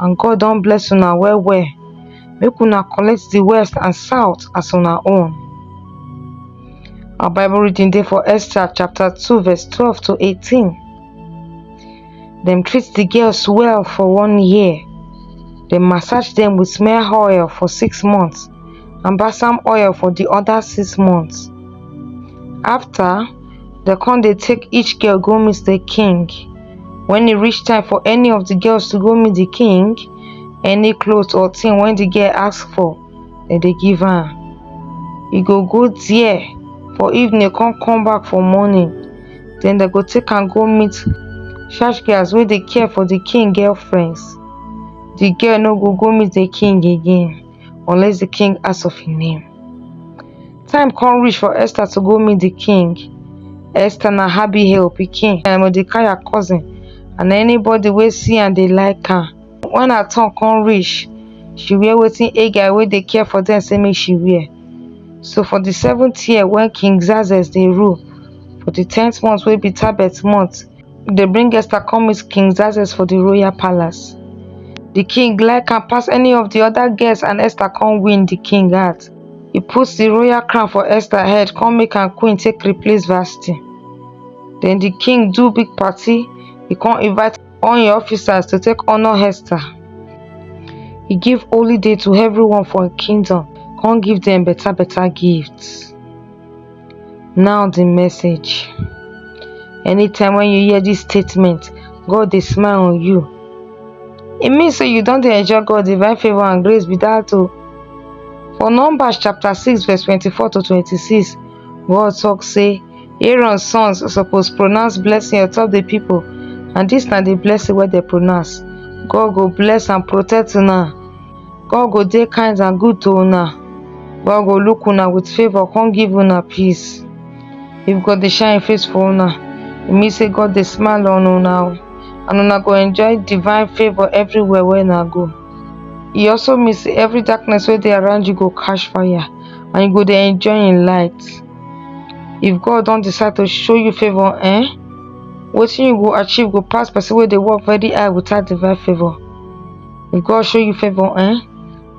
and God don bless una well well make una collect the west and south as una own our bible reading dey for esther chapter 2 verse 12 to 18 dem treat the girls well for one year dem massage dem with smear oil for six months and balsam oil for the other six months after dem come dey take each girl go meet the king when e reach time for any of the girls to go meet the king any cloth or thing when the girl ask for dem dey give her e go go there for evening come come back for morning then dem go take am go meet church girls wey dey care for the king girlfriends the girl no go go meet the king again unless the king ask of him name. Time come reach for Esther to go meet the king. Esther na Abihail pikin na Mordecai cousin and anybody wey see am dey like am. When her turn come reach, she wear wetin Haggai wey dey care for them say make she wear. So for the seventh year when King Xerxes dey rule, for the tenth month wey be Tebeth month, dey bring Esther come meet King Xerxes for the royal palace. The king like her pass any of the other girls and Esther come win the king heart. He put the royal crown for Esther head come make am queen take replace Vashti. Then the king do big party, he come invite all im officers to take honour Esther. He give holy day to everyone for im kingdom come give dem better better gifts. Now the message. Anytime when you hear this statement, God dey smile on you. E mean say you don dey enjoy God divine favour and grace be that o. For Numbers chapter six verse twenty-four to twenty-six, God talk say Aaron sons suppose pronounce blessing on top the people and this na the blessing wey dey pronounce. God go bless and protect una. God go dey kind and good to una. God go look una with favour come give una peace. If God dey shine im face for una, e mean say God dey smile on una o and una go enjoy divine favour everywhere wey una go. E also mean say every darkness wey dey around you go catch fire and you go dey enjoy im light. If God don decide to show you favour eh, wetin you go achieve go pass person wey dey work very hard without divine favour. if god show you favour eh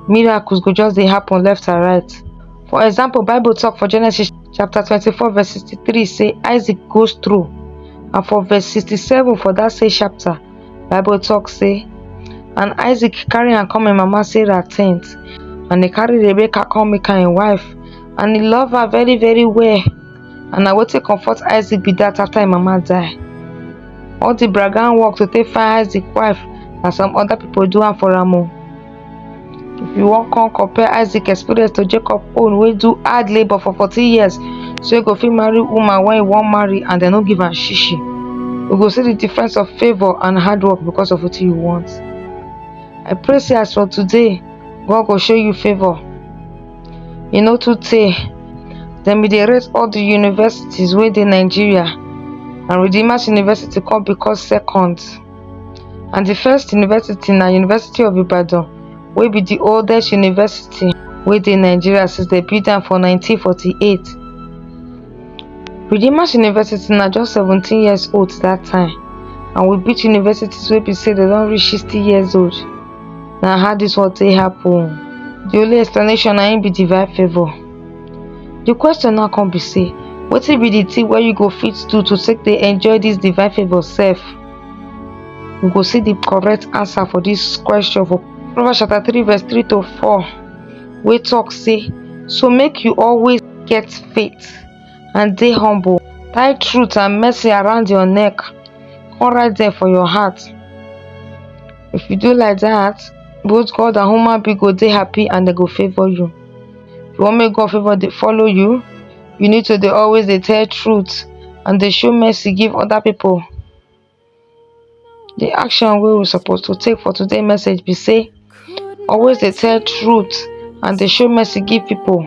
miracles go just dey happen left and right for example bible talk for genesis chapter 24 verse 63 say isaac goes through and for verse 67 for that same chapter bible talk say and isaac carry am come im mama sarah tent and he carry rebecca come make am im wife and he love her very very well and na wetin comfort isaac be dat after im mama die all di bragan work to take find isaac wife na some oda pipo do am for am o if you wan come compare isaac experience to jacob own wey do hard labour for fourteen years so e go fit marry woman wey e wan marry and dem no give am shishi you go see di difference of favour and hard work because of wetin you want i pray say as for today god go show you favour e no too tey dem bin dey rate all di universities wey dey nigeria and redeemers university come become second and di first university na university of ibadan wey be di oldest university wey dey nigeria since dem build am for nineteen forty eight redeemers university na just seventeen years old dat time and we beat universities wey be say dem don reach sixty years old na how dis one take happen the only explanation na im be divine favour the question now come be say wetin be the thing wey you go fit do to take dey enjoy this divine favour sef we go see the correct answer for this question for proverbs chapter three verse three to four wey talk say so make you always get faith and dey humble tie truth and mercy around your neck come write them for your heart if you do like that both god and human being go dey happy and dem go favour you if you wan make god favour dey follow you you need to dey always dey tell truth and dey show mercy give other people the action wey we suppose to take for today message be say always dey tell truth and dey show mercy give people